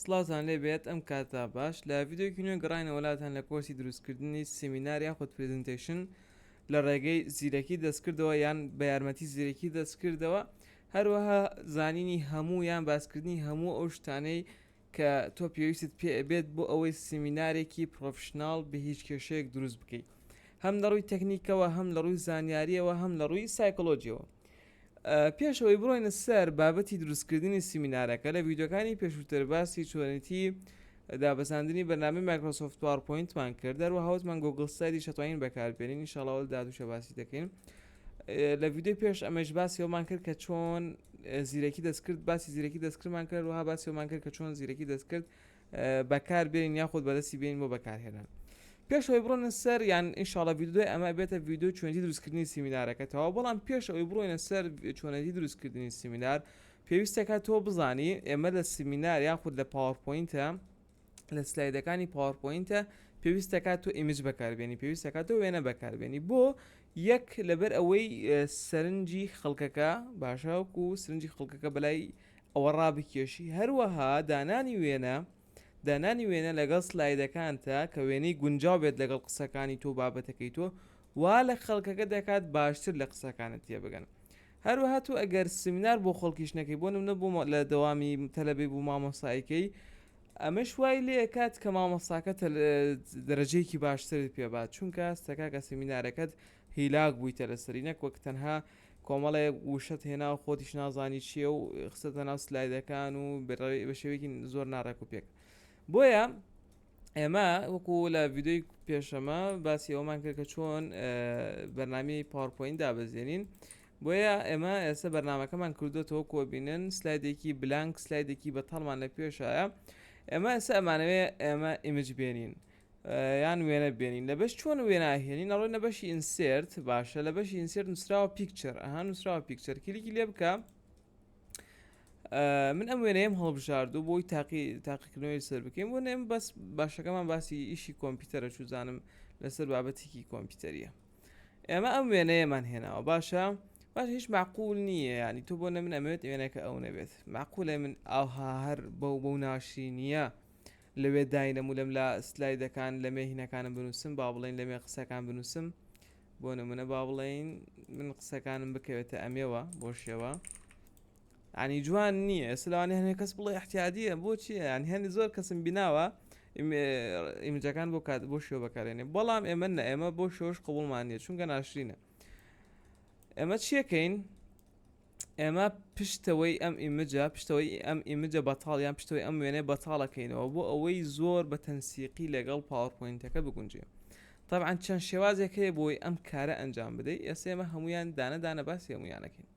سڵاوتان لێ بێت ئەم کاتە باش لە ڤیدیۆکی نوێ گەڕاینەوە لاتان لە کۆرسی دروستکردنی سیمینار یاخود پریزنتیشن لە ڕێگەی زیرەکی دەستکردەوە یان بە یارمەتی زیرەکی دەستکردەوە هەروەها زانینی هەموو یان باسکردنی هەموو ئەو شتانەی کە تۆ پێویستت پێ بێت بۆ ئەوەی سیمینارێکی پرۆفشنناڵ بە هیچ کێشەیەک دروست بکەیت هەم لە ڕووی تەکنیکەوە هەم لە ڕووی زانیاریەوە هەم لە ڕووی سایکۆلۆژیەوە پێش ئەوەی بڕۆینە سەر بابەتی دروستکردنی سیمینارەکە لە ویددیوەکانی پێشووتر باسی چۆنێتی دابەزاندنی بەنامی مایکرۆسۆفت پاوەپۆینتمان کرد دەروە هاوتمان گۆگل سەری شتوانین بەکاربێنین نیشاڵاول دادوشە باسی دەکەین لە ویددیو پێش ئەمەش باسی ئەومان کرد کە چۆن زیرەکی دەستکرد باسی زیرەکی دەستکردمان کرد وها باسی ئەومان کرد کە چۆن زیرەکی دەستکرد بەکاربێنین یاخود بەدەستی بێنین بۆ بەکارهێنان پێش ئەوی بڕۆنە سەر یان ئینشاڵە ویددیوی ئەمە بێتە ویددیو چۆنی دروستکردنی سیمینارەکەتەوە بەڵام پێش ئەوی بڕۆینە سەر چۆنەتی دروستکردنی سیمینار پێویستەکە تۆ بزانی ئێمە لە سیمینار یاخود لە پاوەپۆینتە لە سلایدەکانی پاوەپۆینتە پێویستەکە تۆ ئیمج بەکاربیێنی پێویستەکە تۆ وێنە بەکاربیێنی بۆ یەک لەبەر ئەوەی سەرنجی خەڵکەکە باشەوەکو سرنجی خەڵکەکە بەلای ئەوە ڕابکێشی، هەروەها دانانی وێنە، دانانی وێنە لەگەڵ سلایدەکانتا کە وێنەی گونجاو بێت لەگەڵ قسەکانی تۆ و بابەتەکەی تۆ، وا لە خەڵکەکە دەکات باشتر لە قسەکانت تێبگەن. هەروەها تۆ ئەگەر سیمینار بۆ خەڵکیش نەکەی، بۆ نمونە بۆ لە دەوامی تەلەبەی بۆ مامۆستای کەی، ئەمەش وای لێ ئەکات کە مامۆستاکە دەرەجەیەکی باشترت پێ بات، چونکە ستە کاکە سیمینارەکەت هیلاک بوویتە لەسەری نەک وەک تەنها کۆمەڵێک وشەت هێنا و خۆتیش نازانی چییە و خستەتە ناو سلایدەکان و بە شێوەیەکی زۆر ناڕێک و پێک بۆیە ئێمە وەکو لە ویددیوی پێشەمە باسی ئەومان کرد کە چۆن بەرنامی پاورپۆین دابەزێنین بۆیە ئێمە ئێستا بەرنمەکەمان کردوێتەوە کۆبینن سلایدێکی بلانک سلایدێکی بە تەڵمان لە پێشایە ئێمە ئێستا ئەمانەوێ ئێمە ئیمج بێنین یان وێنە بێنین لە بەش چۆن وێنا هێنین ئەڕۆینە بەشی ئینسرت باشە لە بەشی ئینسرت نووسراوە پیکچەر ئەها نووسراوە پیکچەر کلیکی لێ بکە من ئەم وێنەیەم هەڵبژاردو بۆی تاقی تاقیکردنەوەی سەر بکەین بۆ نێم بەس باشەکەمان باسی ئیشی کۆمپیوتەرە چوزانم لەسەر بابەتێکی کۆمپیوتەریە ئێمە ئەم وێنەیەمان هێناوە باشە باش هیچ معقول نییە ینی تۆ بۆ نە من ئەمەوێت وێنەکە ئەو نەبێت معقولە من ئاها هەر بەو بەو ناشرینیە لەوێ داینەم و لەم لا سلایدەکان لەمێ هینەکانم بنووسم با بڵێین لەمێ قسەکان بنووسم بۆ نمونە با بڵێین من قسەکانم بکەوێتە ئەمێوە بۆ شێوە عنی جوان نییە سلاوانی هەنێ کەس بڵێ احتیادیە بۆچی یان هێنی زۆر کەسم بیناوە ئیمجەکان بۆ کات بۆ شێوە بەکارێنێ بەڵام ئێمە نە ئێمە بۆ شۆش قوڵمانە چونگە ناشرینە ئەمە چیەکەین ئێمە پشتەوەی ئەم ئیمجە پشتەوەی ئەم ئیمجە بەتاڵ یان پشتەوەی ئەم وێنەیە بەتاڵەکەینەوە بۆ ئەوەی زۆر بە تەنسیقی لەگەڵ پاوەرپۆینتەکە بگونجێ طبعا چەند شێوازێک هەیە بۆی ئەم کارە ئەنجام بدەیت ئێستا ئێمە هەمویان دانەدانە باسی هەمویانەکەین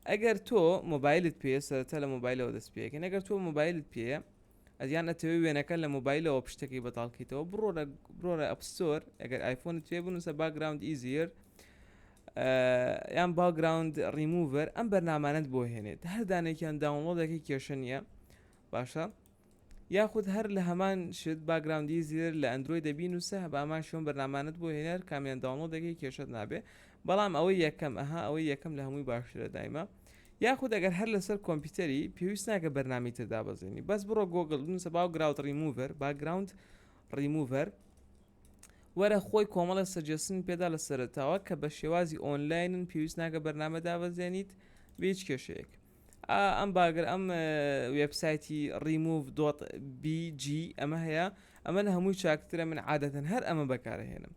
ئەگەر تۆ مۆبایلت پێ سەرەتا لە مۆبایلەوە دەست پێەکەن ئەگەر تۆ مۆبایلت پێەیە یان ئەتەوێ وێنەکە لە مۆبایلەوە پشتەکەی بەتاڵ کەیتەوە بڕۆرە بڕۆرە ئەپستۆر ئەگەر ئایفۆنت توێ بنووسە باگراوند ئیزیر یان باگراوند ڕیموڤەر ئەم بەرنامانت بۆ هێنێت هەردانێکیان داونڵۆدەکەی کێشە نییە باشە یاخود هەر لە هەمان شت باگراوندی زیێر لە ئەندروۆی دەبین و سە بە ئەمان شوێن بەرنامانت بۆ هێنەر کامیان داونڵۆ دەکەی کێشت نابێ بەڵام ئەوەی یەکەم ئەها ئەوەی یەکەم لە هەمووی باشترە دایمە یاخود ئەگەر هەر لەسەر کۆمپیوتەری پێویست ناکە بەرنامی تر دابەزێنی بەس بڕۆ گۆگل بنووسە باو گراوت ڕیموڤەر باگراوند ڕیموڤەر وەرە خۆی کۆمەڵە سەجێسن پێدا لە سەرتاوە کە بە شێوازی ئۆنلاینن پێویست ناکە بەرنامە دابەزێنیت بێچ کێشەیەک ئەم باگرە ئەم وێبسایتی ڕیموڤ دۆت BG ئەمە هەیە ئەمە لە هەمووی چاکترە من عادەتەن هەر ئەمە بەکارهێنم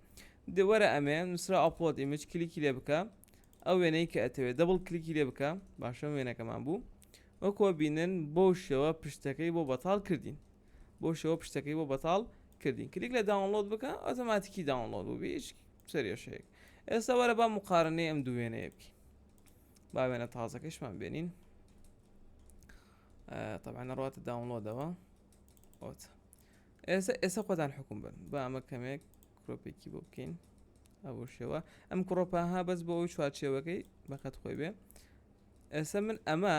دەوەرە ئەمێ نووسرا ئەپۆت ئیمج کلیکی لێ بکە ئەو وێنەی کە ئەتەوێت دەبڵ کلیکی لێ بکە باشە وێنەکەمان بوو وەکۆ بینن بۆ شێوە پشتەکەی بۆ بەتاڵ کردین بۆ شێوە پشتەکەی بۆ بەتاڵ کردین کلیک لە داونلۆد بکە ئۆتۆماتیکی داونلۆد بوو بیش سەرێشەیەک ئێستا وەرە با مقارنەی ئەم دووێنەیە بکە با وێنە تازەکەشمان بێنین طبعا ڕاتە داونلۆدەوە ئۆت ئێستا ئێستا خۆدان حکوم بن با ئەمە کەمێک کرۆپێکی بۆ بکەین ئەوە شێوە ئەم کڕۆپەها بەس بۆ ئەوی چوارچێوەکەی بەقەت خۆی بێ ئێستا من ئەمە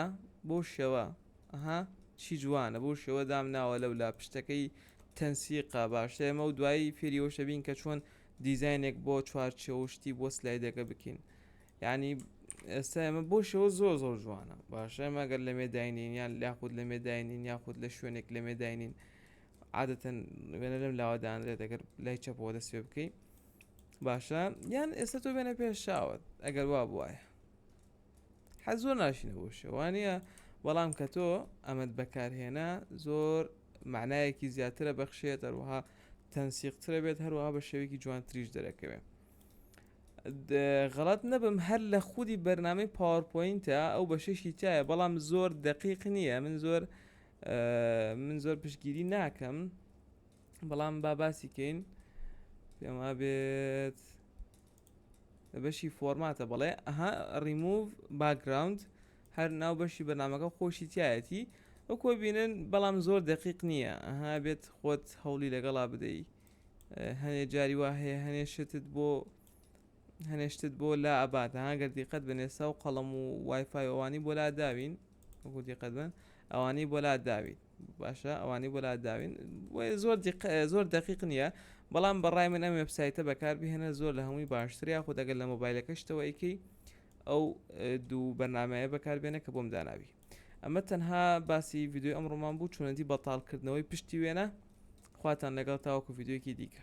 بۆ شێوە ئەها چی جوانە بۆ شێوە دام ناوە لەو لا پشتەکەی تەنسیقا باشتر ئێمە و دوایی فێریەوەشەبین کە چۆن دیزینێک بۆ چوارچەوە شتی بۆ سلایدەکە بکەین یانی ئێستا ئێمە بۆ شەوە زۆر زۆر جوانە باشە ئێمە گەر لە مێداینین یان لاخود لە مێداینین یاخود لە شوێنێک لە مێداینین عادەتەن وێنە لەم لاوەدانرێت دەگەر لای چەپەوە دەست پێ بکەی باشە یان ئێستا تۆ بێنە پێشاوت ئەگەر وا بواە حە زۆر ناشینە بۆ شەوانە بەڵام کە تۆ ئەمەد بەکارهێنا زۆر معنایەکی زیاترە بەخشێت هەروەها تەنسیقترە بێت هەروەها بە شێوێکی جوانتریش دەرەکەوێت غەڵەت نەبم هەر لە خودی بەرنامەی پاوەرپۆینتە ئەو بەشێکی تایە بەڵام زۆر دەقیق نییە من زۆر من زۆر پشگیری ناکەم بەڵام با باسی کەین پێما بێت بەشی فۆرماتە بەڵێ ئەها ڕیموڤ باگراوند هەر ناو بەشی بەنامەکە خۆشی تایەتی ئەو کۆبینن بەڵام زۆر دەقیق نییە ئەها بێت خۆت هەوڵی لەگەڵا بدەیت هەنێ جاری وا هەیە هەنێ شتت بۆ هەنێ شتت بۆ لا ئەبات ها گەر دیقەت بن ئێستا و قەڵەم و وایفای ئەوانی بۆ لا داوین وەکو دیقەت بن ئەوانی بۆ لا داوین باشە ئەوانی بۆ لا داوین زۆر زۆر دقیق نییە بەڵام بەڕای من ئەم وبسایتە بەکاربهێنە زۆر لە هەمووی باشتر یاخود ئەگەر لە مۆبایلەکەشتەوە ئەیکەی ئەو دوو بەرنمەیە بەکاربێنە کە بۆم داناوی ئەمە تەنها باسی ڤیددیو ئەم ڕۆمان بوو چونەتی بەتالکردنەوەی پشتی وێنە خواتان لەگەڵ تاوەکو ڤیددیوکی دیکە